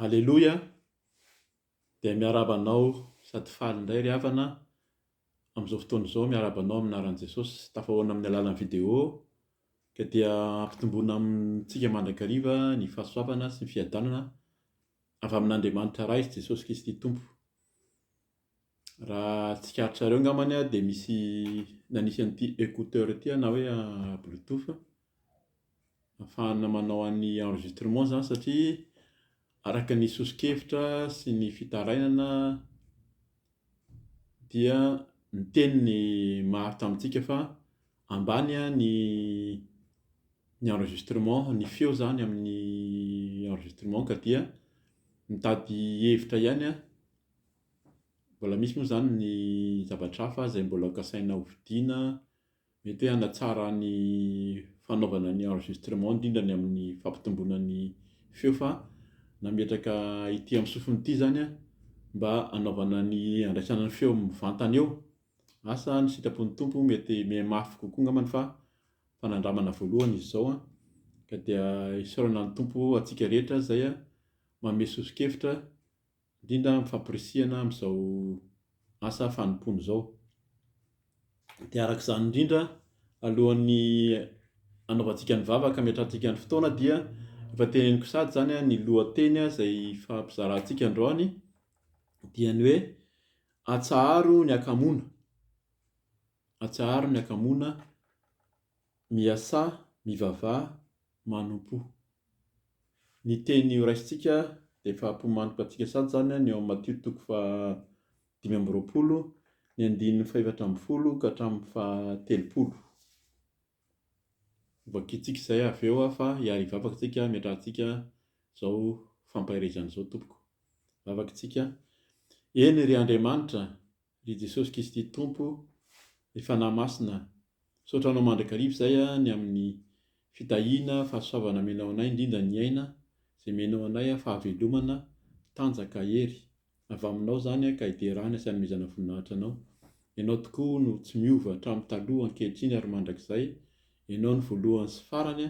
Aleloia, dia miarahaba anao sady faly indray ry havana amin'izao fotoana izao miarahaba anao amin'ny anaran'i Jesosy. Tafahoana amin'ny alalan'ny video ka dia ampitomboina amintsika mandrakariva ny fahasoavana sy ny fiadanana avy amin'Andriamanitra Ray sy Jesosy Kristy Tompo. Raha tsikaritra reo ngambany a de misy nanisy an'ity écouteur ity a na hoe bluetooth afahana manao an'ny enregistrement zany satria araka ny soso-kevitra sy ny fitarainana dia miteny ny maro tamintsika fa ambany a ny ny enregistrement ny feo zany amin'ny enregistrement ka dia mitady hevitra ihany a mbola misy moa zany ny zavatra hafa izay mbola kasaina ho vidiana mety hoe hanatsara ny fanaovana ny enregistrement indrindra ny amin'ny fampitomboana ny feo fa nametraka ity amin'ny sofina ity zany a mba hanaovana ny handraisana ny feo mivantana eo Asa ny sitrapon'ny Tompo mety mihemafy kokoa angambany fa fanandramana voalohany izy izao an, ka dia isaorana ny Tompo antsika rehetra izay manome soso-kevitra indrindra amin'ny fampirisihana amin'izao asa fanompoana izao. Dia araka izany indrindra alohan'ny anaovantsika ny vavaka hametrahantsika ny fotoana dia efa teneniko sady izany ny lohateny izay fampizarantsika androany dia ny hoe Atsaharo ny akamoana Atsaharo ny akamoana Miasà, mivavaha, manompo Ny teny horaisintsika dia efa hampihomaniko antsika sady izany ny ao amin'ny Matio toko faha dimy amby roapolo, ny andininy fahefatra ambin'ny folo ka hatramin'ny faha telopolo. Hovakiantsika izay avy eo aho fa hiary hivavaka isika hametrahantsika izao fampaherezana izao tompoko. Vavaka isika, Eny ry Andriamanitra, ry Jesosy Kristy Tompo, ry Fanahy Masina, misaotra Anao mandrakariva izay ny amin'ny fitahiana, fahasoavana amenao anay, indrindra ny aina izay menao anay, fahavelomana, tanjaka, hery. Avy aminao izany ka hiderana sy hanomezana voninahitra anao. Ianao tokoa no tsy miova hatramin'ny taloha, ankehitriny ary mandrakizay. Ianao no voalohany sy farany,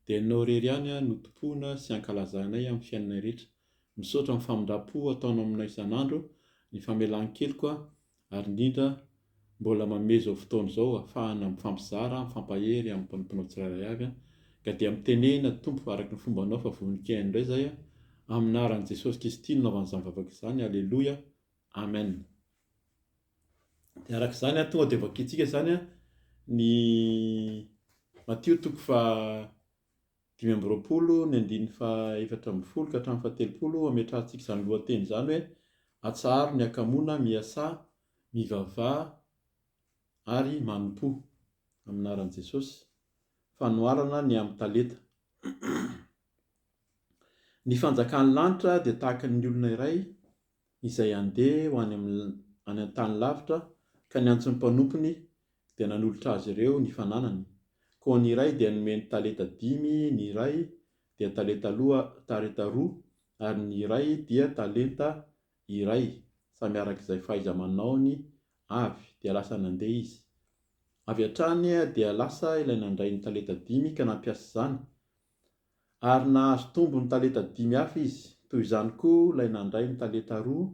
dia anao irery ihany no tompoina sy ankalazanay amin'ny fiainanay rehetra. Misaotra amin'ny famindram-po ataonao aminay isan'andro, ny famelan-keloka ary indrindra mbola manome izao fotoana izao afahana mifampizara, mifampahery amin'ny mpanomponao tsirairay avy an, ka dia mitenena Tompo araka ny fombanao fa vonon-kiaina indray izay an, amin'ny anaran'i Jesosy Kristy no nanaovana izany vavaka izany, Aleloia, Amen. Dia araka izany an, tonga dia vakintsika izany an, ny Matio toko faha Dimy amby roapolo, ny andininy fahaefatra ambin'ny folo ka hatramin'ny fahatelopolo, hametrahantsika izany lohateny izany hoe, Atsaharo ny hakamoana, miasà, mivavaha ary manompo amin'ny anaran'i Jesosy. Fanoharana ny amin'ny talenta. Ny fanjakan'ny lanitra dia tahaka ny olona iray izay handeha ho any any an-tany lavitra ka ny antson'ny mpanompony dia nanolotra azy ireo ny fananany, koa ny iray dia nomeny talenta dimy, ny iray dia talenta loa tarenta roa ary ny iray dia talenta iray samy araka izay fahaiza-manaony avy, dia lasa nandeha izy. Avy hatrany dia lasa ilay nandray ny talenta dimy ka nampiasa izany ary nahazo tombony talenta dimy hafa izy, toy izany koa ilay nandray ny talenta roa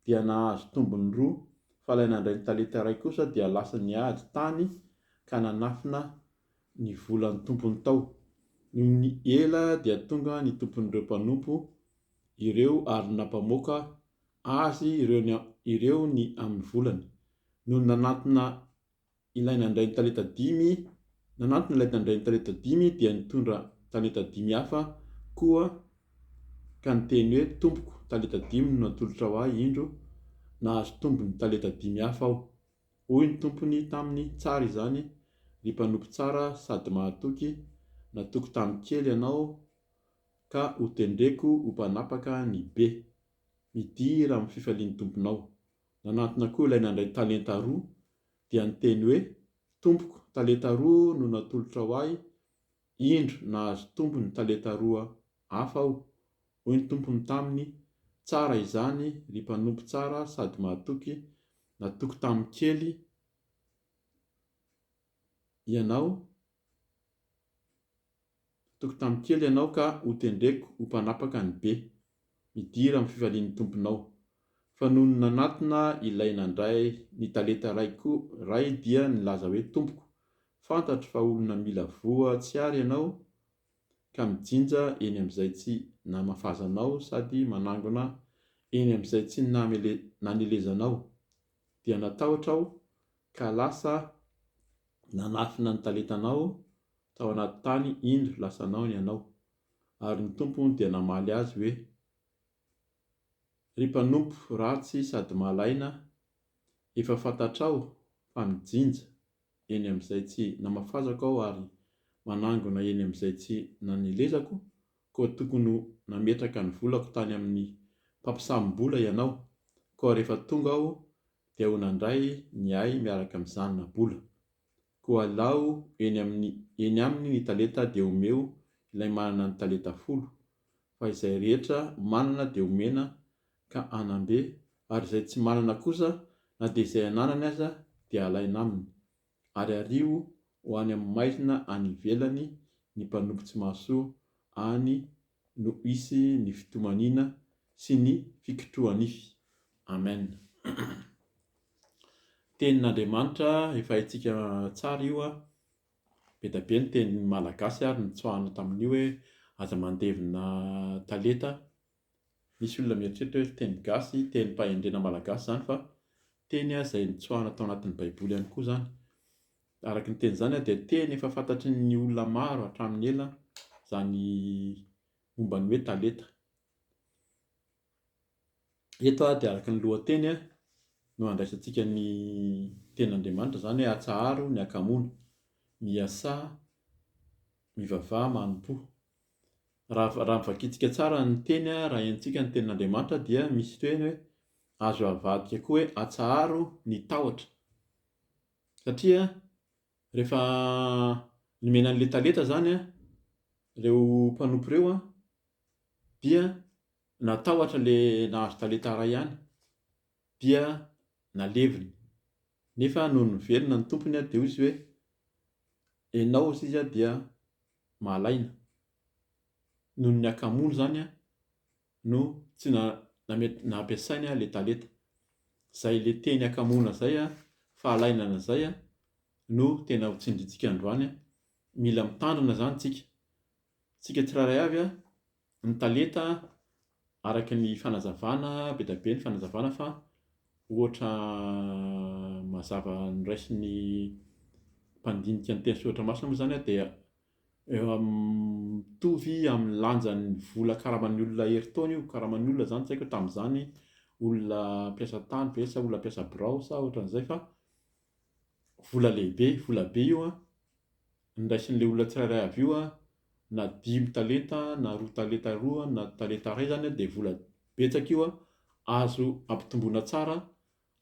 dia nahazo tombony roa, fa ilay nandray ny talenta iray kosa dia lasa niady tany ka nanafina ny volan'ny tompony tao. Nony ela dia tonga ny tompon'ireo mpanompo ireo ary nampamoaka azy ireo ny amin'ny volany, nony nanantona ilay nandray ny talenta dimy, nanantona ilay nandray ny talenta dimy dia nitondra talenta dimy hafa koa ka niteny hoe, Tompoko, talenta dimy no natolotrao ahy indro, nahazo tombony talenta dimy hafa aho. Hoy ny tompony taminy, Tsara izany, ry mpanompo tsara sady mahatoky, natoky tamin'ny kely ianao, ka hotendreko ho mpanapaka ny be. Midira amin'ny fifalian'ny tomponao. Nanantona koa ilay nandray talenta roa, dia niteny hoe, Tompoko, talenta roa no natolotrao ahy, indro, nahazo tombony talenta roa hafa aho. Hoy ny tompony taminy, Tsara izany, ry mpanompo tsara sady mahatoky, natoky tamin'ny kely ianao, Tokotany kely ianao ka hotendreko ho mpanapaka ny be. Midira amin'ny fifalian'ny Tomponao. Fa nony nanatona ilay nandray ny talenta iray koa ray dia nilaza hoe, Tompoko, fantatro fa olona mila voa tsy ary ianao ka mijinja eny amin'izay tsy namafazanao sady manangona eny amin'izay tsy nanelezanao. Dia natahotra aho ka lasa nanafina ny talentanao Tao anaty tany indro lasanao ny anao. Ary ny Tompo dia namaly azy hoe, Ry mpanompo ratsy sady malaina, efa fantatrao fa mijinja eny amin'izay tsy namafazako aho ary manangona eny amin'izay tsy nanelezako, koa tokony ho nametraka ny volako tany amin'ny mpampisamim-bola ianao, koa rehefa tonga aho dia ho nandray ny ahy miaraka amin'ny zanona-bola. Koa alao eny amin'ny eny aminy ny talenta dia omeo ilay manana ny talenta folo, fa izay rehetra manana dia omena ka hanam-be, ary izay tsy manana kosa na dia izay ananany aza dia alaina aminy, ary ariho ho any amin'ny maizina any ivelany ny mpanompo tsy mahasoa any no hisy ny fitomaniana sy ny fikotrohanify. Amen. Tenin'Andriamanitra efa haintsika tsara io an! Be da be ny teny malagasy ary nitsoahana tamin'io hoe aza mandevina taleta. Misy olona mieritreritra hoe teny gasy, tenim-pahendrena malagasy izany fa teny izay nitsoahana tao anatin'ny baiboly ihany koa izany. Araka ny teny izany dia teny efa fantatry ny olona maro hatramin'ny ela izany momba ny hoe taleta. Eto dia araka ny lohateny no handraisantsika ny tenin'Andriamanitra izany hoe atsaharo ny hakamoana, miasà, mivavaha, manompo. Raha raha vakintsika tsara ny teny raha henontsika ny tenin'Andriamanitra dia misy teny hoe azo avadika koa hoe atsaharo ny tahotra. Satria rehefa nomena an'ilay talenta izany ireo mpanompo ireo dia natahotra ilay nahazo talenta iray ihany dia naleviny. Nefa nony niverina ny tompony dia hoy izy hoe, ianao hoy izy dia malaina noho ny hakamoana izany no tsy nampiasainy ilay talenta. Izay ilay teny hakamoana izay, fahalainana izay no tena ho tsindrintsika androany. Mila mitandrina izany isika. Isika tsirairay avy ny talenta araka ny fanazavana, be dia be ny fanazavana fa ohatra mazava noraisin'ny mpandinika ny teny soratra masina moa izany dia Mitovy amin'ny lanjan'ny vola karaman'ny olona herintaona io, karaman'ny olona izany tsy haiko hoe tamin'izany olona mpiasa tany ve sa olona mpiasa birao sa ohatran'izay fa vola lehibe, vola be io an, ny raisin'ilay olona tsirairay avy io an, na dimy talenta na roa talenta roa na talenta iray izany an dia vola betsaka io an, azo ampitomboina tsara.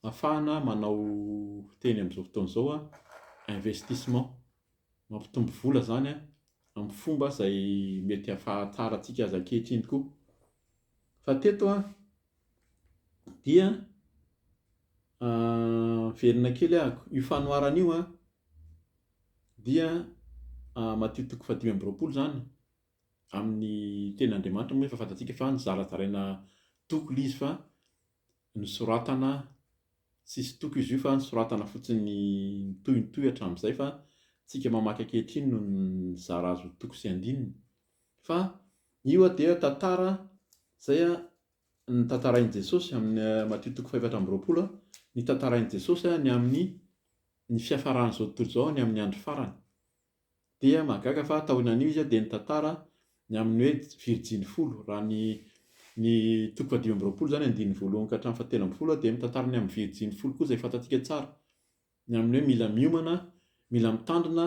Afahana manao teny amin'izao fotoana izao hoe investissement, mampitombo vola izany amin'ny fomba izay mety ahafahatsaratsika azy ankehitriny koa. Fa teto dia miverina kely aho, io fanoharana io dia Matio toko fahadimy amby roapolo izany amin'ny tenin'Andriamanitra moa efa fantatsika fa nozarazaraina toko ilay izy fa Nosoratana, tsisy toko izy io fa nosoratana fotsiny mitohy mitohy hatramin'izay fa tsika mamaky ankehitriny no nizara azy ho toko sy andininy. Fa io dia tantara izay notantarain'i Jesosy amin'ny Matio toko fahefatra amby roapolo, ny tantarain'i Jesosy ny amin'ny ny fiafaran'izao tontolo izao, ny amin'ny andro farany. Dia mahagaga fa taoinan'io izy dia nitantara ny amin'ny hoe virjiny folo. Raha ny ny toko fahadimy amby roapolo izany andininy voalohany ka hatramin'ny fahatelo ambin'ny folo dia mitantara ny amin'ny virjiny folo koa izay fantatsika tsara. Ny amin'ny hoe mila miomana, mila mitandrina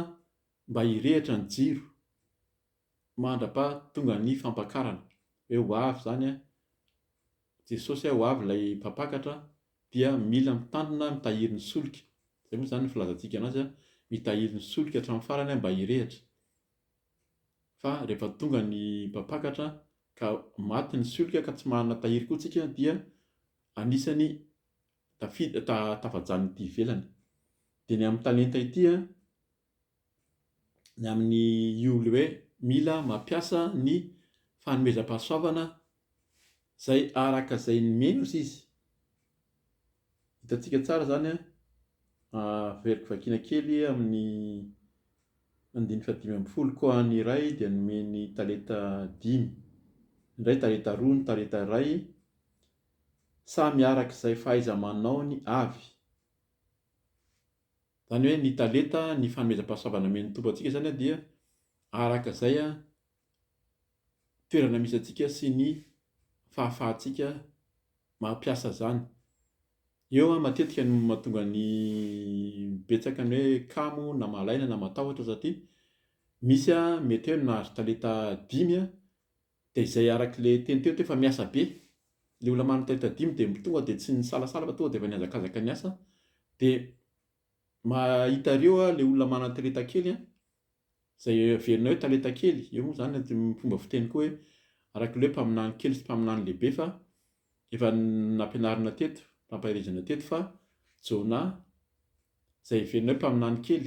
mba hirehitra ny jiro mandra-pa tonga ny fampakarana. Hoe ho avy izany an, Jesosy an, ho avy ilay mpampakatra dia mila mitandrina mitahiry ny solika, izay moa izany ny filazantsika anazy, mitahiry ny solika hatramin'ny farany mba hirehitra, fa rehefa tonga ny mpampakatra ka maty ny solika ka tsy manana tahiry koa tsika dia anisany tafajanona ety ivelany, dia ny amin'ny talenta ity an, ny amin'ny io le hoe mila mampiasa ny fanomezam-pahasoavana izay araka izay nomeny ozy izy. Hitantsika tsara izany an, averiko vakiana kely amin'ny andininy fahadimy ambin'ny folo, koa ny iray dia nomeny talenta dimy, ny iray talenta roa, ny talenta iray samy araka izay fahaiza-manaony avy. Zany hoe ny talenta, ny fanomezam-pahasoavana nomen'ny Tompo antsika zany dia araka izay toerana misy antsika sy ny fahafahantsika mampiasa izany. Eo matetika no mahatonga ny betsaka ny hoe kamo na malaina na matahotra satria misy mety hoe nahazo talenta dimy Dia izay araka ilay teny teo teo fa miasa be. Ilay olona manana taita dimy dia tonga dia tsy nisalasala fa tonga dia efa nihazakazaka niasa. Dia mahitareo ilay olona manana talenta kely an, izay heverina hoe talenta kely, eo moa izany ny fomba fiteny koa hoe araka ilay hoe mpaminany kely sy mpaminany lehibe fa efa nampianarina teto, nampaherezana teto fa Jonah izay heverina hoe mpaminany kely,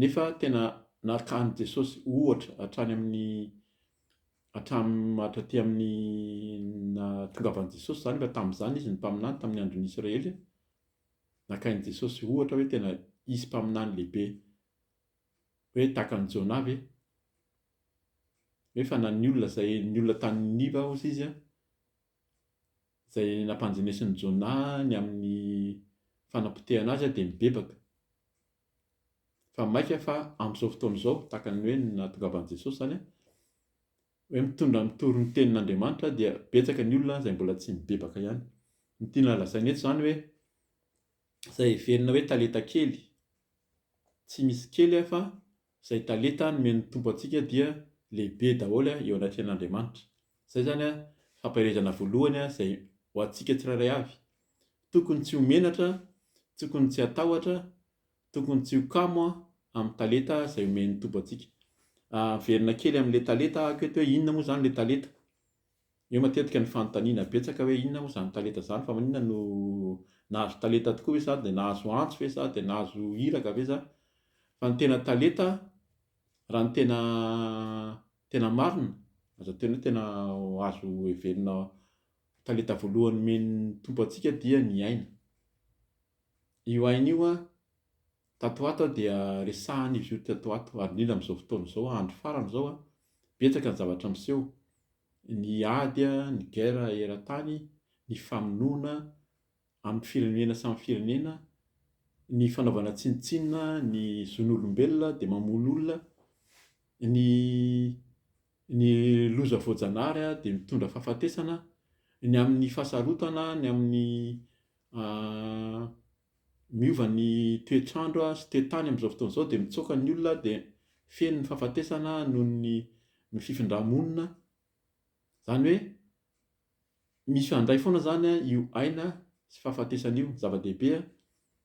Nefa tena naka an'i Jesosy ohatra hatrany amin'ny hatram hatraty amin'ny nahatongavan'i Jesosy izany raha tamin'izany izy ny mpaminany tamin'ny andron'ny Israely. Nakain'i Jesosy ohatra hoe tena hisy mpaminany lehibe hoe tahaka an'i Jonah ve? Hoe fa na ny olona izay ny olona tany Niniva ozy izy izay nampanjenesin'i Jonah ny amin'ny fanapotehana azy dia nibebaka. Fa maika fa amin'izao fotoana izao, tahaka ny hoe ny nahatongavan'i Jesosy izany an, hoe mitondra mitory ny tenin'Andriamanitra dia betsaka ny olona izay mbola tsy mibebaka ihany. Ny tiana lazaina eto izany hoe izay heverina hoe talenta kely, tsy misy kely fa Izay talenta nomen'ny Tompo antsika dia lehibe daholo eo anatrehan'Andriamanitra. Izay izany fampaherezana voalohany izay ho antsika tsirairay avy. Tokony tsy ho menatra, tokony tsy hatahotra, tokony tsy ho kamo amin'ny talenta izay omen'ny Tompo antsika. Averina kely amin'ilay talenta ahako eto hoe inona moa izany ilay talenta? Eo matetika ny fanontaniana betsaka hoe inona moa izany talenta izany fa maninona no nahazo talenta tokoa ve za dia nahazo antso ve za dia nahazo iraka ve za fa ny tena talenta raha ny tena tena marina azo atao hoe tena azo heverina talenta voalohany omen'ny Tompo antsika dia ny aina io aina io an Tato ho ato aho dia resahan' izy io tato ho ato, ary indrindra amin'izao fotoana izao, andro farany izao an, betsaka ny zavatra miseho, ny ady, ny guerre eran-tany, ny famonoana amin'ny firenena samy firenena, ny fanaovana tsinontsinona ny zon'olombelona dia mamono olona, ny ny loza voajanahary dia mitondra fahafatesana, ny amin'ny fahasarotana, ny amin'ny miova ny toetr'andro sy toe-tany amin'izao fotoana izao dia mitsoaka ny olona dia feno ny fahafatesana noho ny ny fifindrà-monina, izany hoe misy handray foana izany io aina sy fahafatesana io, zava-dehibe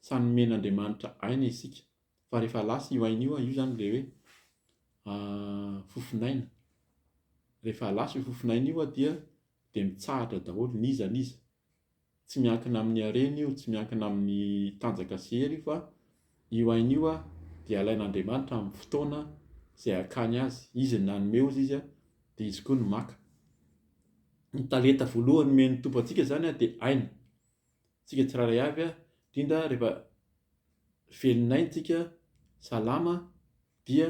samy nomen'Andriamanitra aina isika fa rehefa lasa io aina io, io izany ilay hoe fofon'aina, rehefa lasa io fofon'aina io dia dia mitsahatra daholo n'iza n'iza, tsy miankina amin'ny harena io, tsy miankina amin'ny tanjaka sy hery io fa io aina io dia alain'Andriamanitra amin'ny fotoana izay hakany azy. Izy no nanome hozy izy dia izy koa no maka. Ny talenta voalohany nomen'ny Tompo antsika izany dia aina. Isika tsirairay avy indrindra rehefa velon'aina isika, salama dia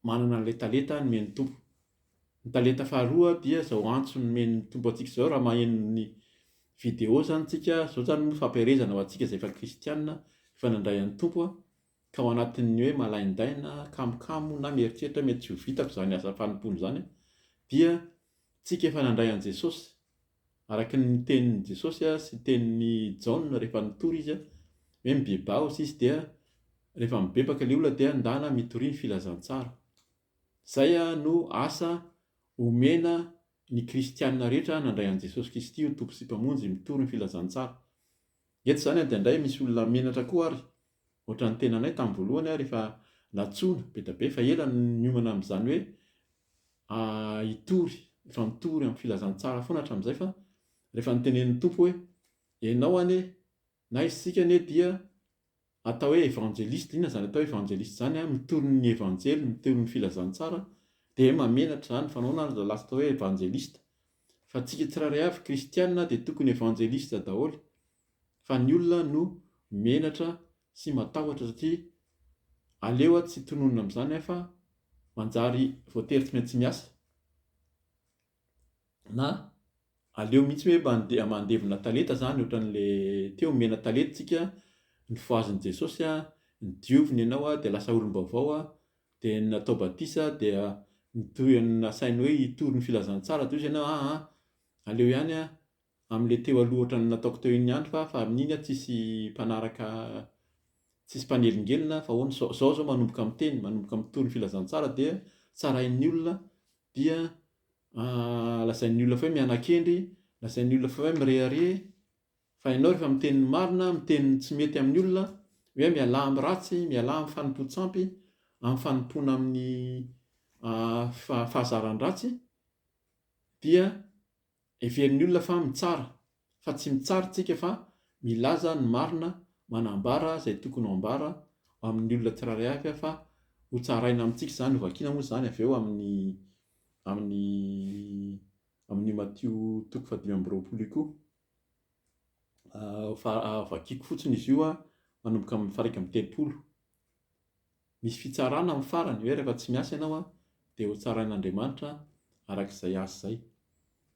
Manana an'ilay talenta nomen'ny Tompo. Ny talenta faharoa dia izao antso nomen'ny Tompo antsika izao raha maheno ny video izany tsika, izao izany moa fampiherezana ho antsika izay efa kristiana, efa nandray an'ny Tompo, ka ao anatin'ny hoe malaindaina, kamokamo na mieritreritra hoe mety tsy ho vitako izany asa fanompoana izany dia tsika efa nandray an'i Jesosy, Araka ny tenin'i Jesosy sy tenin'i Jaona rehefa nitory izy hoe mibebaha osa izy dia rehefa mibebaka ilay olona dia ndana mitoria ny filazantsara. Izay no asa omena ny kristiana rehetra nandray an'i Jesosy Kristy ho Tompo sy Mpamonjy, mitory ny filazantsara. Eto izany an dia indray misy olona menatra koa ary ohatra ny tenanay tamin'ny voalohany aho rehefa nantsoina be dia be fa ela no niomana amin'izany hoe hitory efa mitory amin'ny filazantsara foana hatramin'izay fa rehefa notenenin'ny Tompo hoe ianao anie na isika anie dia Atao hoe evangeliste, inona izany atao hoe evangeliste izany an, mitory ny evanjely, mitory ny filazantsara, dia mamenatra izany, fanaonana ary lasa atao hoe evangeliste, fa tsika tsirairay avy kristiana dia tokony evangeliste daholo, fa ny olona no menatra sy matahotra satria aleo aho tsy tononina amin'izany an fa manjary voatery tsy maintsy miasa, na aleo mihitsy hoe mandeha mandevina talenta zany ohatran'le teo omena talenta tsika nofohazin'i Jesosy a, diovina ianao dia lasa olom-baovao a, dia natao batisa dia nitory nasainy hoe hitory ny filazantsara toy izy ianao, aa aleo ihany a Amle teo aloha ohatran'ny nataoko teo iny andry fa fa amin'iny aho tsisy mpanaraka tsisy mpanelingelina fa ahoana zao zao zao manomboka miteny manomboka mitory ny filazantsara dia tsarain'ny olona dia lazain'ny olona fa hoe mianakendry lazain'ny olona fa hoe mirehareha fa ianao rehefa miteny ny marina miteny ny tsy mety amin'ny olona hoe mialà amin'ny ratsy mialà amin'ny fanompoan-tsampy amin'ny fanompoana amin'ny fahazaran-dratsy dia Heverin'ny olona fa mitsara, fa tsy mitsara tsika fa milaza ny marina manambara izay tokony ho ambara ho amin'ny olona tsirairay avy aho fa ho tsaraina amintsika izany ho vakiana moa izany avy eo amin'ny amin'ny amin'io Matio toko fahadimy amby roapolo io koa fa vakiako fotsiny izy io manomboka amin'ny faha iraika amby telopolo Misy fitsarana amin'ny farany hoe rehefa tsy miasa ianao an, dia ho tsarain'Andriamanitra araka izay azy izay.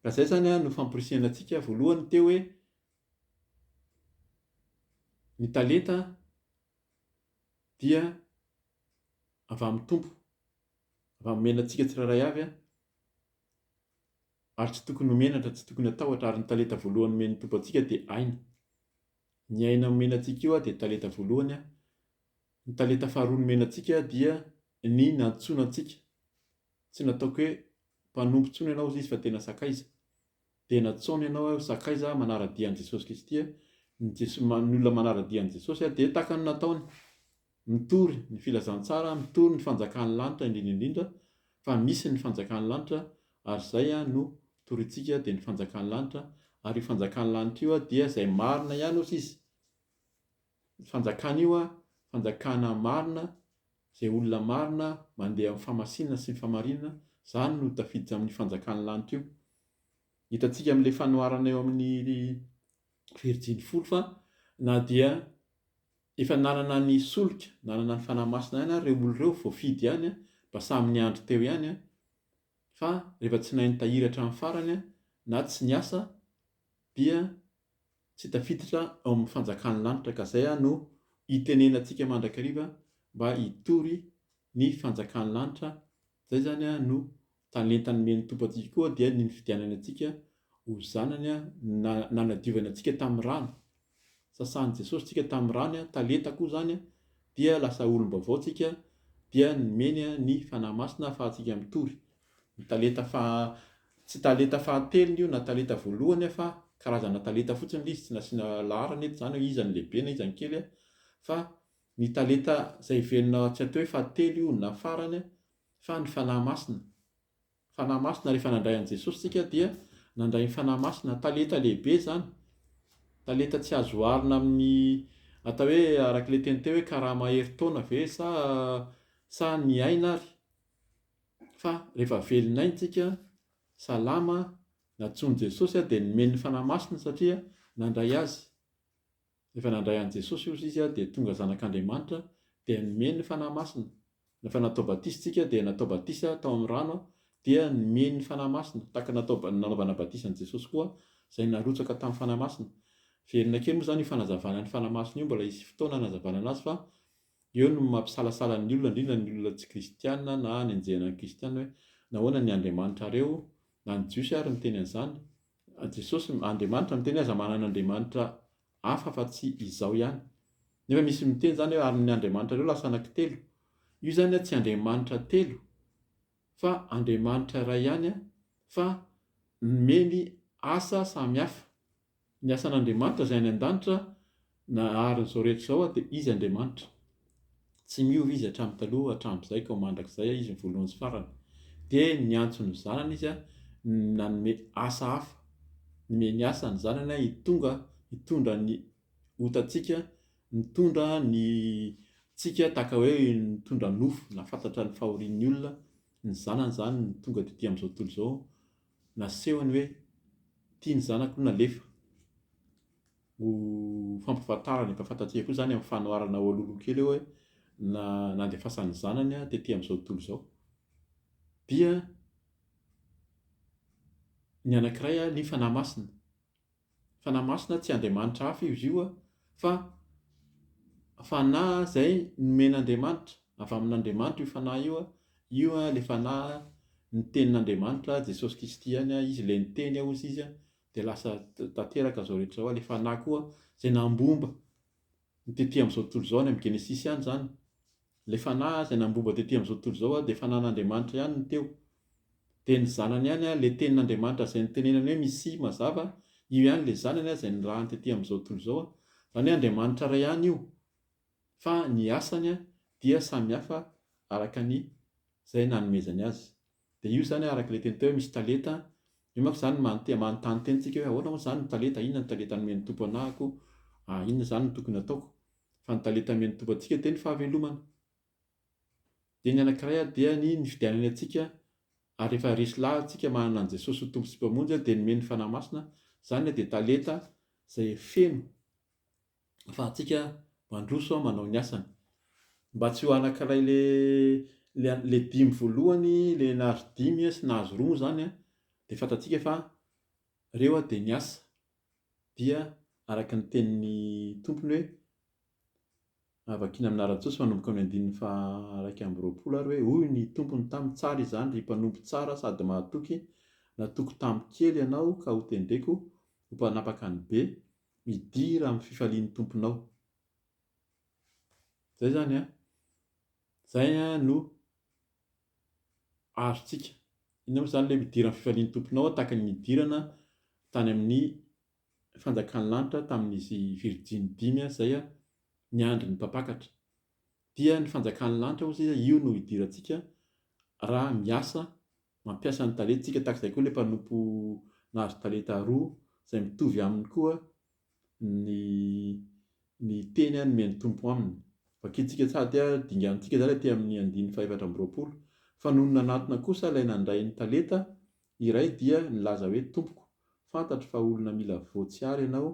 Ka izay izany an no famporisihana antsika, voalohany teo hoe ny talenta dia avy amin'ny Tompo, avy amin'ny omena antsika tsirairay avy an, ary tsy tokony ho menatra, tsy tokony hatahotra, ary ny talenta voalohany omen'ny Tompo antsika dia aina. Ny aina nomena antsika io dia talenta voalohany an. Ny talenta faharoa nomena antsika dia ny nantsoina antsika. Tsy nataoko hoe mpanompo intsony ianao hoy izy fa tena sakaiza. Dia natsaony ianao hoe ho sakaiza manara-dia an'i Jesosy Kristy. Ny olona manara-dia an'i Jesosy dia tahaka ny nataony. Mitory ny filazantsara, mitory ny fanjakan'ny lanitra indrindra indrindra fa misy ny fanjakan'ny lanitra ary izay no torintsika dia ny fanjakan'ny lanitra ary io fanjakan'ny lanitra io dia izay marina ihany osa izy fanjakana io fanjakana marina izay olona marina mandeha amin'ny famasinana sy ny famarinana izany no tafiditra amin'ny fanjakan'ny lanitra io hitantsika amin'ilay fanoharana eo amin'ny virijiny folo fa na dia Efa nanana ny solika, nanana ny Fanahy Masina ihany ary ireo olona ireo voafidy ihany mba samy niandry teo ihany fa rehefa tsy nahay nitahiry hatramin'ny farany na tsy niasa dia tsy tafiditra ao amin'ny fanjakan'ny lanitra ka izay no itenenantsika mandrakariva mba hitory ny fanjakan'ny lanitra, izay izany no Talenta nomen'ny Tompo antsika koa dia ny nifidianany antsika ho zanany, na nanadiovany antsika tamin'ny rany. Sasan'i Jesosy tsika tamin'ny rany, talenta koa izany, dia lasa olom-baovao tsika, dia nomeny ny Fanahy Masina ahafahantsika mitory. Ny talenta faha, tsy talenta fahatelony io na talenta voalohany fa karazana talenta fotsiny ilay izy, tsy nasiana laharana eto izany hoe iza no lehibe na iza no kely, fa ny talenta izay velona tsy atao hoe fahatelo io na farany fa ny Fanahy Masina. Fanahy Masina rehefa nandray an'i Jesosy tsika dia nandray ny Fanahy Masina. Talenta lehibe izany. Talenta tsy azo oharina amin'ny atao hoe araka ilay teny teo hoe karama herintaona ve sa sa ny aina ary. Fa rehefa velon'aina tsika, salama, natsoin'i Jesosy dia nomeny ny Fanahy Masina satria nandray azy. Rehefa nandray an'i Jesosy ozy izy dia tonga zanak'Andriamanitra dia nomeny ny Fanahy Masina. Rehefa natao batisa isika dia natao batisa tao amin'ny rano dia nomeny ny Fanahy Masina tahaka natao nanaovana batisa an'i Jesosy koa izay narotsaka tamin'ny Fanahy Masina. Velona kely moa izany io fanazavana ny Fanahy Masina io mbola hisy fotoana hanazavana anazy fa eo no mampisalasala ny olona indrindra ny olona tsy kristiana na hanenjehana ny kristiana hoe nahoana ny Andriamanitrareo na ny Jiosy ary niteny an'izany Jesosy, Andriamanitra miteny aza manana andriamanitra hafa fa tsy izao ihany. Nefa misy miteny izany hoe ary ny andriamanitrareo lasa anaky telo. Io izany tsy andriamanitra telo fa Andriamanitra iray ihany fa nomeny asa samy hafa. Ny asan'Andriamanitra izay any an-danitra Naharin'izao rehetra izao aho dia Izy Andriamanitra. Tsy miova Izy hatramin'ny taloha, hatramin'izay ka ho mandrakizay aho, Izy ny voalohany sy farany. Dia niantso ny zanany Izy nanome asa hafa. Nomeny asa ny zanany hitonga, hitondra ny otantsika, nitondra ny tsika tahaka hoe nitondra nofo, nahafantatra ny fahorian'ny olona, ny zanany izany no tonga dia aty amin'izao tontolo izao, nasehony hoe ity ny zanako nalefa. Ho fampifantarana, efa fantatsika koa izany amin'ny fanoharana ao alohaloha kely eo hoe na nandefasan'ny zanany tety amin'izao tontolo izao. Dia ny anankiray ny fanahy masina. Fanahy masina tsy andriamanitra hafa izy io fa fanahy izay nomen'Andriamanitra, avy amin'Andriamanitra io fanahy io, io ilay fanahy ny tenin'Andriamanitra, Jesosy Kristy ihany, izy ilay niteny hozy izy dia lasa tanteraka izao rehetra izao, ilay fanahy koa izay nambomba ny tety amin'izao tontolo izao, any amin'ny Genesisy any izany, ilay fanahy izay nambomba tety amin'izao tontolo izao dia fanan'Andriamanitra ihany no teo, dia ny zanany ihany, ilay tenin'Andriamanitra izay nitenenany hoe Misia mazava, io ihany ilay zanany izay nirahany tety amin'izao tontolo izao, izany hoe Andriamanitra iray ihany io fa ny asany dia samy hafa araka ny izay nanomezany azy. Dia io izany araka ilay teny teo hoe misy talenta, io manko izany manontena, manontany tena antsika hoe ahoana moa izany ny talenta, inona ny talenta nomen'ny Tompo anahako, ah inona izany no tokony hataoko? Fa ny talenta nomen'ny Tompo antsika dia ny fahavelomana. Dia ny anankiray ary dia ny ny fidianany antsika, ary rehefa resy lahatsika manana an'i Jesosy ho Tompo sy Mpamonjy dia nomeny ny Fanahy Masina, izany ilay dia talenta izay feno, afahantsika mandroso manao ny asany. Mba tsy ho anankiray le le le dimy voalohany le nahazo dimy sy nahazo roa moa zany de fantatsika fa reo de niasa dia araka ny tenin'ny tompony hoe vakina amina Rajoa sy manomboka amin'ny andininy faha iraika amby roapolo ary hoe hoy ny tompony taminy tsara izany ry mpanompo tsara sady mahatoky natoky tamin'ny kely ianao ka hotendreko ho mpanapaka ny be Midira amin'ny fifalian'ny tomponao. Izay izany an! Izay no azontsika. Inona moa izany ilay midira amin'ny fifalian'ny tomponao tahaka ny nidirana tany amin'ny fanjakan'ny lanitra tamin'izy virjiny dimy izay niandry ny mpampakatra. Dia ny fanjakan'ny lanitra hozy io no hidirantsika raha miasa Mampiasa ny talentsika tahaka izay koa ilay mpanompo nahazo talenta roa, izay mitovy aminy koa ny ny teny nomen'ny Tompo aminy. Vakintsika sady dinganintsika izany aty amin'ny andininy fahefatra amby roapolo. Fa nony nanatona kosa ilay nandray ny talenta iray dia nilaza hoe, Tompoko, fantatro fa olona mila voa tsiaro ianao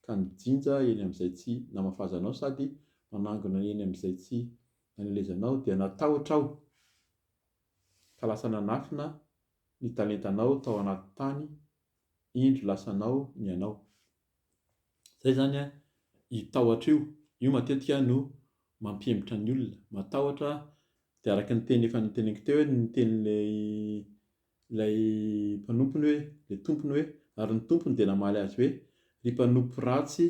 ka nijinja eny amin'izay tsy namafazanao sady manangona eny amin'izay tsy nanelezanao dia natahotra aho. Ka lasa nanafina ny talentanao tao anaty tany indro lasa anao ny anao. Zay zany an i tahotra io, io matetika no mampihemotra ny olona, matahotra dia araka ny teny efa noteneniko teo hoe ny tenin'ilay ilay mpanompony hoe, ilay tompony hoe, ary ny tompony dia namaly azy hoe, ry mpanompo ratsy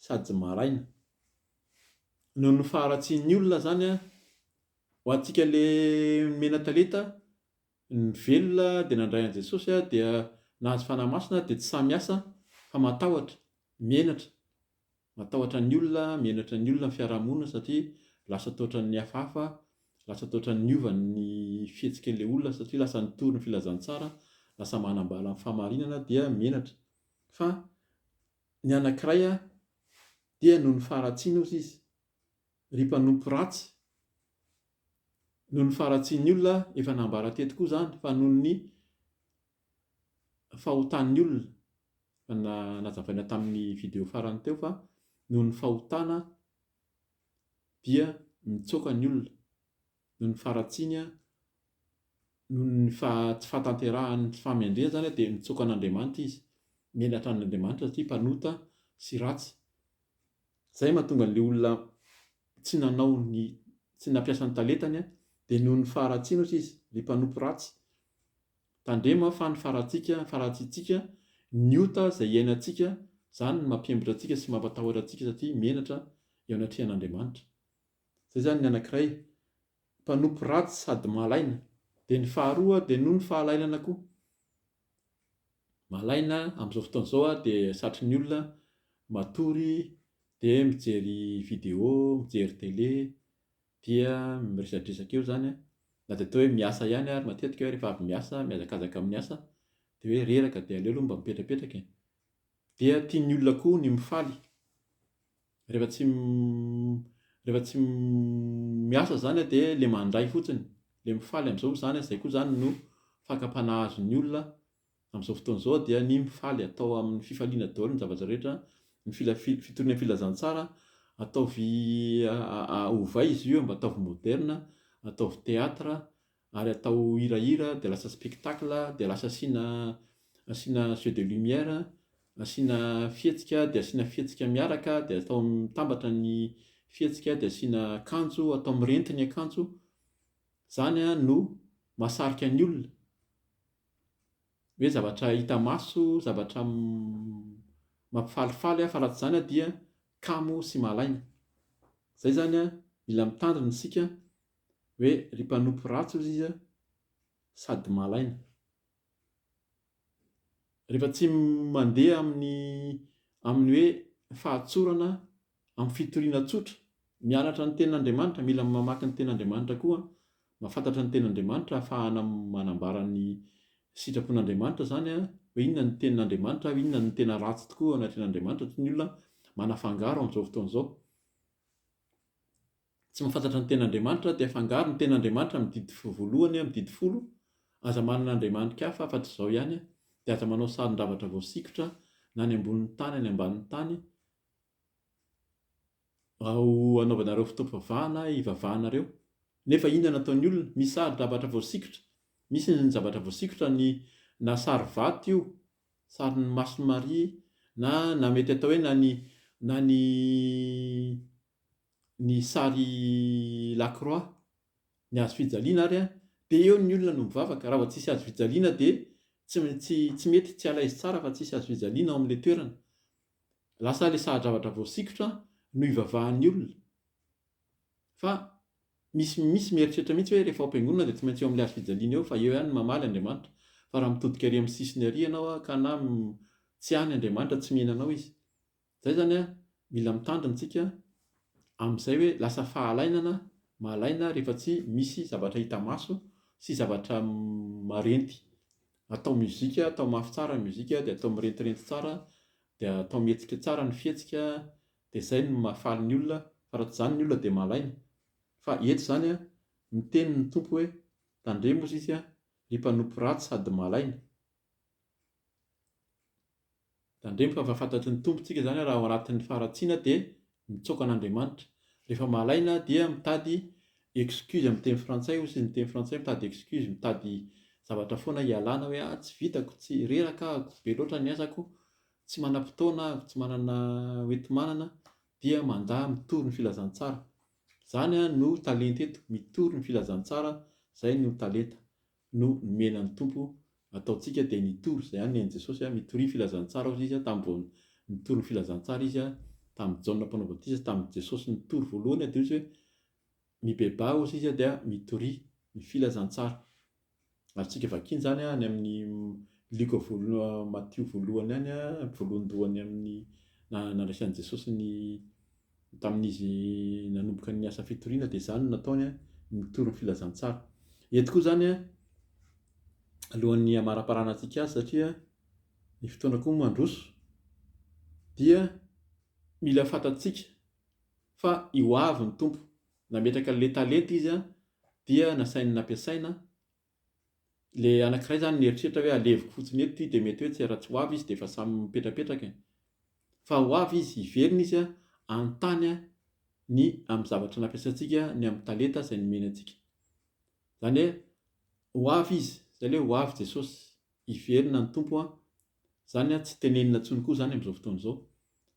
sady maraina. Noho ny faharatsian'ny olona zany an, Ho antsika le mena talenta ny velona dia nandray an'i Jesosy dia nahazo fanahy masina dia tsy sahy miasa fa matahotra, menatra, matahotra ny olona, menatra ny olona ny fiarahamonina satria lasa toa ohatran'ny hafahafa, lasa toa ohatran'ny niova ny fihetsik'ilay olona satria lasa nitory ny filazantsara, lasa manambala ny fahamarinana dia menatra, fa ny anankiray dia noho ny faharatsiana ozy izy. Ry mpanompo ratsy, noho ny faharatsian'ny olona, efa nambara teto koa izany fa noho ny fahotan'ny olona, efa nazavaina tamin'ny video farany teo fa noho ny fahotana dia mitsoaka ny olona, noho ny faharatsiany an, noho ny tsy fahatanterahan' ny fahamendrehany izany dia mitsoaka an' Andriamanitra izy, menatra an' Andriamanitra satria mpanota sy ratsy. Izay mahatonga an'ilay olona tsy nanao ny, tsy nampiasa ny talentany an, dia noho ny faharatsiany ohatra izy, ilay mpanompo ratsy. Tandremo fa ny faharatsika, faharatsitsika, ny ota izay iainantsika, izany no mampiembotra antsika sy mampatahotra antsika satria menatra eo anatrehan' Andriamanitra. Zay zany ny anakiray, mpanompo ratsy sady malaina. Dia ny faharoa dia noho ny fahalailana koa. Malaina amin'izao fotoana izao aho dia satry ny olona matory dia mijery video, mijery tele, dia miresadresaka eo zany an, na dia atao hoe miasa ihany ary matetika aho rehefa avy miasa mihazakazaka amin'ny asa dia hoe reraka dia aleo aloha mba mipetrapetraka e! Dia tian'ny olona koa ny mifaly. Rehefa tsy rehefa tsy miasa izany dia ilay mandray fotsiny, ilay mifaly amin'izao izany, izay koa izany no fakam-panahy azon'ny olona amin'izao fotoana izao dia ny mifaly, atao amin'ny fifaliana daholo ny zavatra rehetra, ny fitoriana filazantsara ataovy ovay izy io mba ataovy moderina, ataovy théâtre, ary atao hirahira dia lasa spectacle dia lasa asiana asiana jeux de lumière asiana fihetsika dia asiana fihetsika miaraka dia atao mitambatra ny fihetsika dia asiana akanjo atao mirenty ny akanjo zany a no mahasarika ny olona hoe zavatra hita maso zavatra mampifalifaly a fa raha tsy zany dia kamo sy mahalaina zay zany a mila mitandrina isika hoe ry mpanompo ratsy hozy izy sady malaina. Rehefa tsy mandeha amin'ny amin'ny hoe fahatsorana amin'ny fitoriana tsotra, mianatra ny tenin'Andriamanitra, mila mamaky ny tenin'Andriamanitra koa, mahafantatra ny tenin'Andriamanitra ahafahana manambara ny sitrapon'Andriamanitra izany hoe inona ny tenin'Andriamanitra, inona no tena ratsy tokoa eo anatrehan'Andriamanitra, satria ny olona manafangaro amin'izao fotoana izao. Tsy mahafantatra ny ten'Andriamanitra dia afangaro ny ten'Andriamanitra amin'ny didy voalohany amin'ny didy folo, aza manana andriamanitk hafa afatr izao ihany, dia aza manao sarin-javatra voasikotra na any ambonin'ny tany any ambanin'ny tany ao anaovanareo fotoam-pivavahana hivavahanareo, nefa inona no ataon'ny olona? Misy sarin-javatra voasikotra, misy ny zavatra voasikotra ny na sary vato io, sarin'ny mason'i Maria na na mety atao hoe na ny na ny ny sary lacroix ny hazo fijaliana ary an dia eo ny olona no mivavaka raha vao tsisy hazo fijaliana dia tsy tsy mety tsy alaizy tsara fa tsisy hazo fijaliana ao amin'ilay toerana lasa ilay sahadravatra voasikotra no ivavahan'ny olona fa misy misy mieritreritra mihitsy hoe rehefa ao am-piangonana dia tsy maintsy eo amin'ilay hazo fijaliana eo fa eo ihany mamaly Andriamanitra fa raha mitodika ary amin'ny sisiny ary ianao ka na tsy any Andriamanitra tsy mihinanao izy Zay zany a, mila mitandrina tsika amin'izay hoe lasa fahalainana, mahalaina rehefa tsy misy zavatra hita maso sy zavatra marenty. Atao mozika, atao mafy tsara ny mozika, dia atao mirentirenty tsara, dia atao mihetsika tsara ny fihetsika, dia zay no mahafaly ny olona, fa raha tsy zany ny olona dia mahalaina. Fa eto zany a, miteny ny Tompo hoe, tandremo hozy izy a, ry mpanompo ratsy sady mahalaina. Tandremo fa efa fantatry ny Tompontsika izany raha ao anatin'ny faharatsiana dia mitsaoka an'Andriamanitra. Rehefa malaina dia mitady excuse amin'ny teny frantsay hoy ny teny frantsay mitady excuse, mitady zavatra foana hialana hoe ah tsy vitako, tsy, reraka ahako, be loatra ny asako, tsy manam-potoana aho, tsy manana hoenti-manana, dia mandà mitory ny filazantsara. Izany no talenta eto, mitory ny filazantsara, izay no talenta. no nomena ny Tompo ataontsika dia nitory izay ihany ny ain'i Jesosy a, mitoria filazantsara hozy izy a, tamin'ny vao nitory ny filazantsara izy a, tamin'i Jaona mpanao batisa sy tamin'i Jesosy nitory voalohany a dia hozy hoe mibebaha hozy izy a dia mitoria ny filazantsara. Azontsika vakiana izany any amin'ny Lioka voalohany Matio voalohany any a, voalohandohany amin'ny nandraisan'i Jesosy ny Tamin'izy nanomboka ny asa fitoriana dia izany no nataony, nitory ny filazantsara. Eto koa izany alohan'ny hamaraparana antsika azy satria ny fotoana koa mandroso dia mila fantatsika fa i hoavy ny Tompo. Nametraka ilay talenta izy dia nasainy nampiasaina. Ilay anankiray izany nieritreritra hoe aleviko fotsiny eto ity dia mety hoe tsy raha tsy ho avy izy dia efa samy mipetrapetraka e. Fa ho avy izy, hiverina izy hanontany ny amin'ny zavatra nampiasantsika, ny amin'ny talenta izay nomeny antsika. Izany hoe ho avy izy, izay ilay hoe ho avy Jesosy, hiverina ny Tompo an. Izany tsy tenenina intsony koa izany amin'izao fotoana izao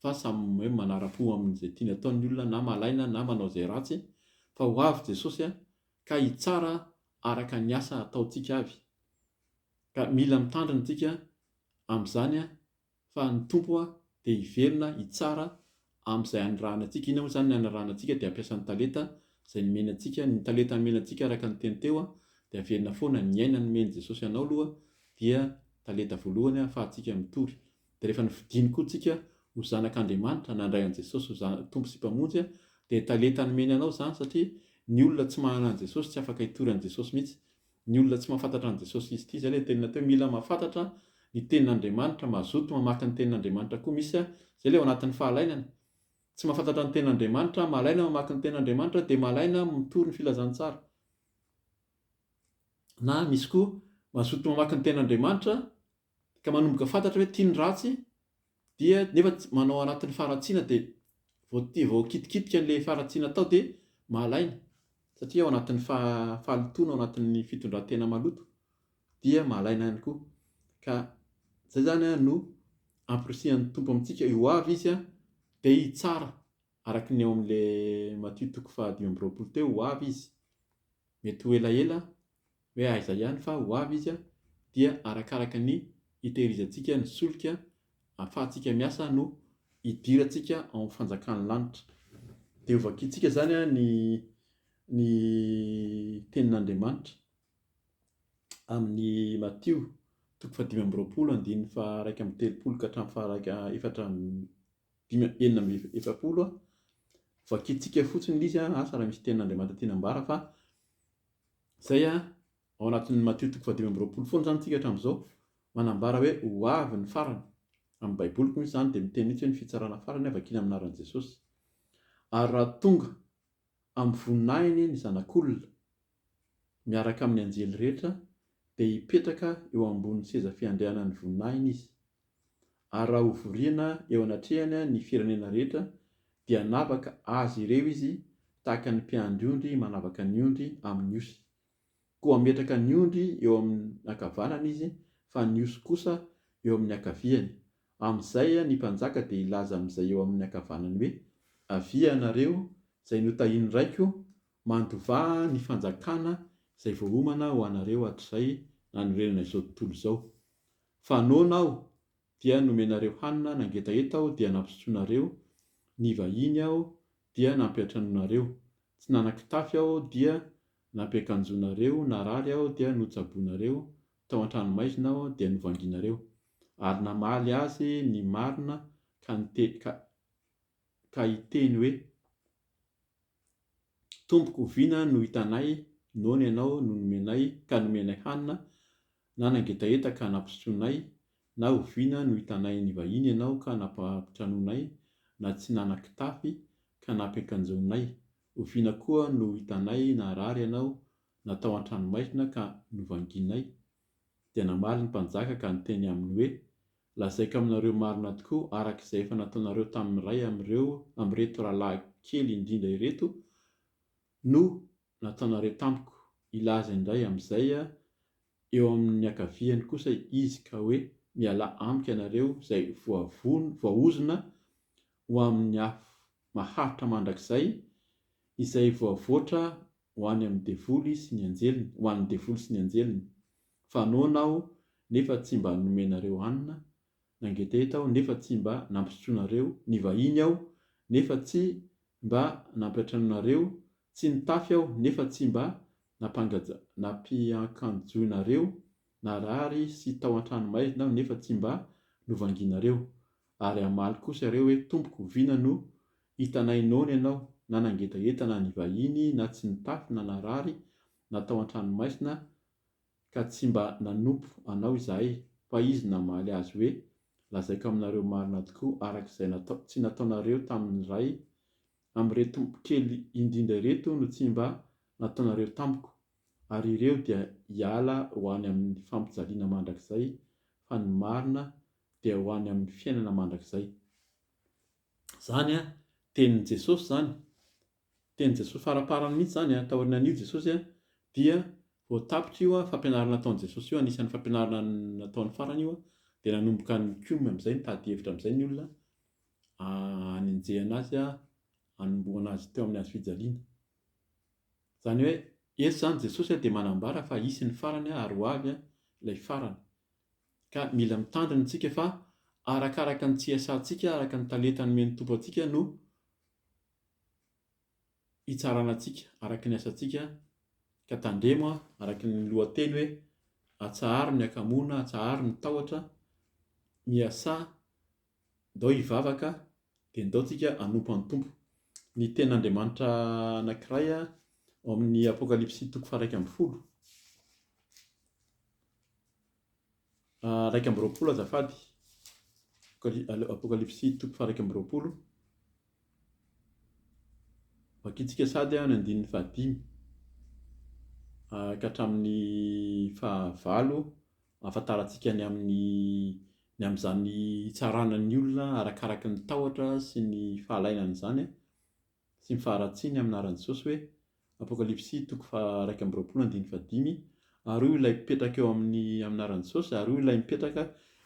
fa samy hoe manara-po amin'izay tiany atao ny olona na malaina na manao izay ratsy fa ho avy Jesosy an, ka hitsara araka ny asa ataontsika avy, ka mila mitandrina tsika amin'izany an, fa ny Tompo an dia hiverina hitsara amin'izay anirahana antsika, inona moa izany ny anarahana antsika dia hampiasa ny talenta izay nomeny antsika, ny talenta nomena antsika araka ny teny teo an dia averina foana, ny aina nomeny Jesosy anao aloha dia talenta voalohany an afahantsika mitory. Dia rehefa nofidiany koa tsika ho zanak' Andriamanitra, nandray an'i Jesosy ho zana, Tompo sy Mpamonjy, dia talenta nomeny anao izany satria ny olona tsy mahana an'i Jesosy tsy afaka hitory an'i Jesosy mihitsy. Ny olona tsy mahafantatra an'i Jesosy izy ity, izay ilay tenina teo, mila mahafantatra ny tenin' Andriamanitra, mazoto mamaky ny tenin' Andriamanitra koa misy a, izay ilay ao anatin'ny fahalainana. Tsy mahafantatra ny tenin' Andriamanitra, mahalaina mamaky ny tenin' Andriamanitra, dia mahalaina mitory ny filazantsara. Na misy koa mazoto mamaky ny tenin' Andriamanitra ka manomboka fantatra hoe tia ny ratsy dia nefa tsy manao anatin'ny faharatsiana dia vao tia vao kitikitika an'ilay faharatsiana atao dia mahalaina satria ao anatin'ny fahalotoana ao anatin'ny fitondran-tena maloto dia mahalaina ihany koa ka izay zany a no ampirisihan'ny tompo amintsika eo avy izy a dia hitsara araka ny ao amin'ilay matio toko fahadimy amby roapolo teo ho avy izy Mety ho elaela hoe aiza ihany fa ho avy izy dia arakaraka ny hitehirizantsika ny solika ahafahantsika miasa no hidirantsika ao amin'ny fanjakan'ny lanitra. Dia ho vakintsika izany ny ny tenin'Andriamanitra amin'ny Matio toko fahadimy amby roapolo andininy faharaika amby telopolo ka hatramin'ny faharaika efatra dimy amby enina amby efapolo vakintsika fotsiny ilay izy an, asa raha misy tenin'Andriamanitra tiana ambara fa izay an, ao anatin'ny Matio toko fahadimy amby roapolo foana izany isika hatramin'izao, manambara hoe ho avy ny farany, amin'ny baiboliko misy izany dia miteny mihitsy hoe ny fitsarana farany an, vakina amin'ny anaran'i Jesosy, ary raha tonga amin'ny voninahiny ny zanak'olona miaraka amin'ny anjely rehetra dia hipetraka eo ambonin'ny seza fiandrianan'ny voninahiny izy, Ary raha hovoriana eo anatrehany ny firenena rehetra, dia hanavaka azy ireo izy tahaka ny mpiandry ondry manavaka ny ondry amin' ny osy. Koa hametraka ny ondry eo amin' ny ankavanany izy, fa ny osy kosa eo amin' ny ankaviany. Amin' izay ny mpanjaka dia hilaza amin' izay eo amin' ny ankavanany hoe, Avia ianareo, izay notahin' ny Raiko, mandovà ny fanjakana izay voaomana ho anareo hatrizay nanorenana izao tontolo izao. Fa noana aho dia nomenareo hanina nangetaheta aho dia nampisotsonareo, nivahiny aho dia nampiantranoinareo, tsy nanan-kitafy aho dia nampiakanjoinareo, narary aho dia notsaboinareo, tao an-tranomaizina aho dia novanginareo. Ary namaly azy ny marina ka niteny ka ka hiteny hoe, Tompoko, oviana no hitanay noana ianao no nomenay ka nomenay hanina Na nangetaheta ka nampisotroinay, na oviana no hitanay ny vahiny ianao ka nampitranonay, na tsy nanan-kitafy ka nampiakanjoanay, oviana koa no hitanay naharary ianao, na tao an-tranomaizina ka novangianay? Dia namaly ny mpanjaka ka niteny aminy hoe, Lazaiko aminareo marina tokoa, araka izay efa nataonareo tamin'ny iray amin'ireo amin'ireto rahalahy kely indrindra ireto no nataonareo tamiko, hilaza indray amin'izay eo amin'ny ankaviany kosa Izy ka hoe, Mialà amiko ianareo izay voavono, voaozona ho amin'ny afo maharitra mandrakizay, izay voavoatra ho any amin'ny devoly sy ny anjeliny, ho an'ny devoly sy ny anjeliny, fa noana Aho nefa tsy mba nomenareo hanina, Nangetaheta aho nefa tsy mba nampisotroanareo, nivahiny aho nefa tsy mba nampiantranoinareo, tsy nitafy aho nefa tsy mba nampiankanjoinareo, narary sy tao an-tranomaizina aho nefa tsy mba novangianareo. Ary hamaly kosa iareo hoe, Tompoko, vina no hitanay noana ianao, na nangetaheta na nivahiny na tsy nitafy na narary na tao an-tranomaizina, Ka tsy mba nanompo Anao izahay, fa izy namaly azy hoe, Lazaiko aminareo marina tokoa, araka izay natao, tsy nataonareo tamin'ny iray amin'ireto kely indrindra ireto no tsy mba nataonareo tamiko, ary ireo dia hiala ho any amin'ny fampijaliana mandrakizay, fa ny marina dia ho any amin'ny fiainana mandrakizay. Izany an, tenin'i Jesosy izany, Tenin'i Jesosy faraparany mihitsy izany an, taoriana an'io Jesosy an, dia vao tapitra io an, fampianarana nataon'i Jesosy io, anisan'ny fampianarana nataony farany io an, dia nanomboka nikomy amin'izay, nitady hevitra amin'izay ny olona hanenjehana azy an, hanombohana azy teo amin'ny hazofijaliana. Izany hoe, eto izany Jesosy an dia manambara fa hisy ny farany an, ary ho avy an, ilay farany. Ka mila mitandrina isika fa arakaraka ny CSA-ntsika, araka ny talenta nomen'ny Tompo antsika no. hitsarana antsika araka ny asantsika ka tandremo araka ny lohateny hoe atsaharo ny hakamoana, atsaharo ny tahotra, miasà, ndao hivavaka dia ndao tsika hanompo an'i Tompo. Ny tenin'Andriamanitra anankiray ao amin'ny Apokalypsy toko faha iraika ambin'ny folo. iraika amby roapolo azafady, Apokalypsy toko faha iraika amby roapolo, vakintsika sady ny andininy faha dimy ka hatramin'ny faha valo ahafantarantsika ny amin'ny ny amin'izany hitsarana ny olona arakaraka ny tahotra sy ny fahalainan'izany sy ny faharatsiany amin'ny anaran'i Jesosy hoe Apokalypsy toko faha iraika amby roapolo andininy faha dimy Ary hoy ilay mpipetraka eo aminy amin'ny anaran'i Jesosy ary hoy ilay mipetraka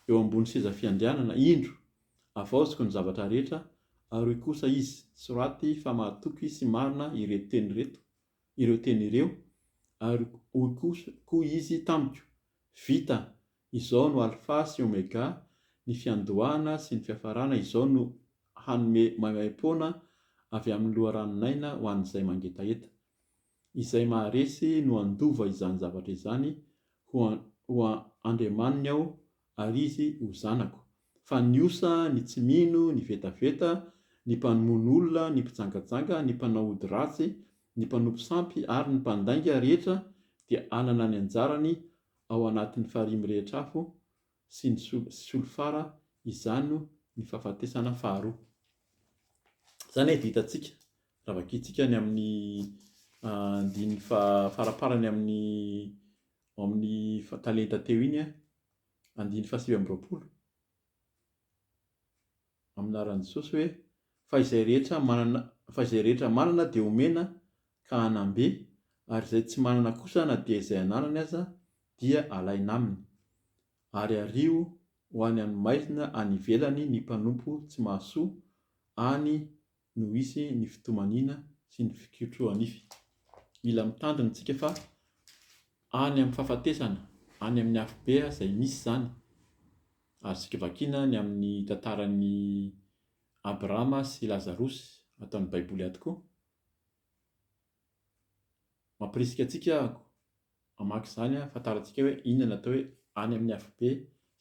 eo ambony seza fiandrianana indro avaoziko ny zavatra rehetra ary hoy kosa izy soraty fa mahatoky sy marina ireto teny ireto ireo teny ireo ary hoy koa izy tamiko vita Izao no Alfa sy Omega, ny fiandohana sy ny fiafarana, izao no hanome maimaim-poana avy amin'ny loharanon'aina ho an'izay mangetaheta. Izay maharesy no handova izany zavatra izany ho ho andriamaniny aho ary izy ho zanako, fa ny osa, ny tsy mino, ny vetaveta, ny mpanomono olona, ny mpijangajanga, ny mpanao ody ratsy, ny mpanompo sampy ary ny mpandainga rehetra dia hanana ny anjarany ao anatin'ny farihy mirehitra afo sy ny solifara izano ny fahafatesana faharoa. Izany efa vitantsika raha vakintsika ny amin'ny andininy faraparany amin'ny amin'ny talenta teo iny, andininy fahasivy amby roapolo. amin'ny anaran'i Jesosy hoe, fa izay rehetra manana, fa izay rehetra manana dia homena ka hanam-be, ary izay tsy manana kosa na dia izay ananany aza dia alaina aminy. Ary ario ho any amin'ny maizina any ivelany ny mpanompo tsy mahasoa, any no hisy ny fitomaniana sy ny fikotrohanify. Mila mitandrina isika fa any amin'ny fahafatesana, any amin'ny afobe izay misy izany. Azontsika vakiana ny amin'ny tantaran'i Abrahama sy Lazarosy ato amin'ny Baiboly ato koa. Mampirisika antsika aho hamaky izany hahafantarantsika hoe inona ny atao hoe any amin'ny afobe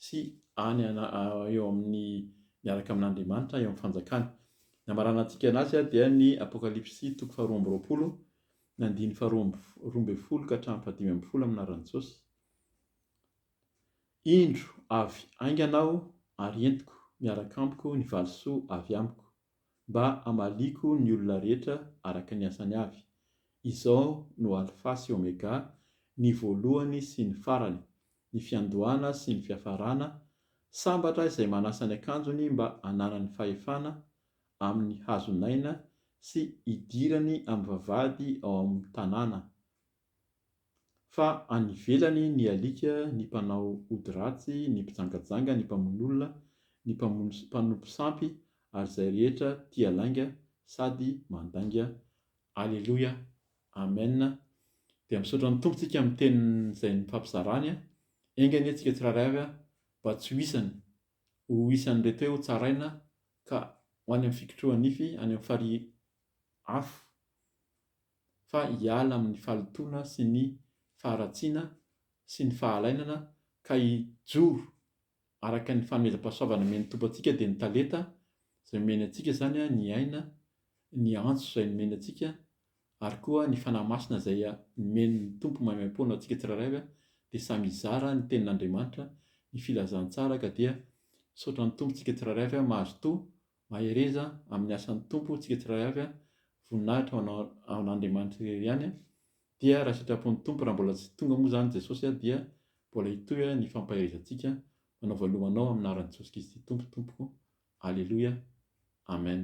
sy any eo amin'ny miaraka amin'Andriamanitra eo amin'ny fanjakany. Ny hamaranantsika anazy dia ny Apokalypsy toko faharoa amby roapolo ny andininy faharoa amby roa ambin'ny folo ka hatramin'ny fahadimy ambin'ny folo amin'ny anaran'i Jesosy. Indro avy haingana aho ary entiko miaraka amiko ny valisoa avy amiko. mba hamaliako ny olona rehetra araka ny asany avy. Izao no Alfa sy Omega, ny voalohany sy ny farany, ny fiandohana sy ny fiafarana, sambatra izay manasa ny akanjony mba hananany fahefana amin'ny hazon'aina sy hidirany amin'ny vavahady ao amin'ny tanàna. Fa any ivelany ny alika, ny mpanao ody ratsy, ny mpijangajanga, ny mpamono olona, ny mpamono sy mpanompo sampy, ary izay rehetra tia lainga sady mandainga. Aleloia. Amen. Dia misaotra ny Tompo tsika amin'ny teniny izay nifampizarany. Enga anie tsika tsirairay avy mba tsy ho isany, ho isan'ireto hoe hotsaraina ka ho any amin'ny fikotrohan-nify, any amin'ny farihy afo. fa hiala amin'ny fahalotoana sy ny faharatsiana sy ny fahalainana ka hijoro araka ny fanomezam-pahasoavana omen'ny Tompo antsika dia ny talenta izay omeny antsika izany ny aina ny antso izay nomeny antsika ary koa ny Fanahy Masina izay nomen'ny Tompo maimaimpoana antsika tsirairay avy dia samy hizara ny tenin'Andriamanitra ny filazantsara ka dia misaotra ny Tompo tsika tsirairay avy mahazotoa Mahereza amin'ny asan'ny Tompo isika tsirairay avy a! Voninahitra ho anao ho an'Andriamanitra irery ihany a! Dia raha sitrapon'ny Tompo raha mbola tsy tonga moa izany Jesosy a dia mbola hitohy ny fampaherezantsika manaova loha anao amin'ny anaran'i Jesosy Kristy Tompo tompoko Aleloia Amen.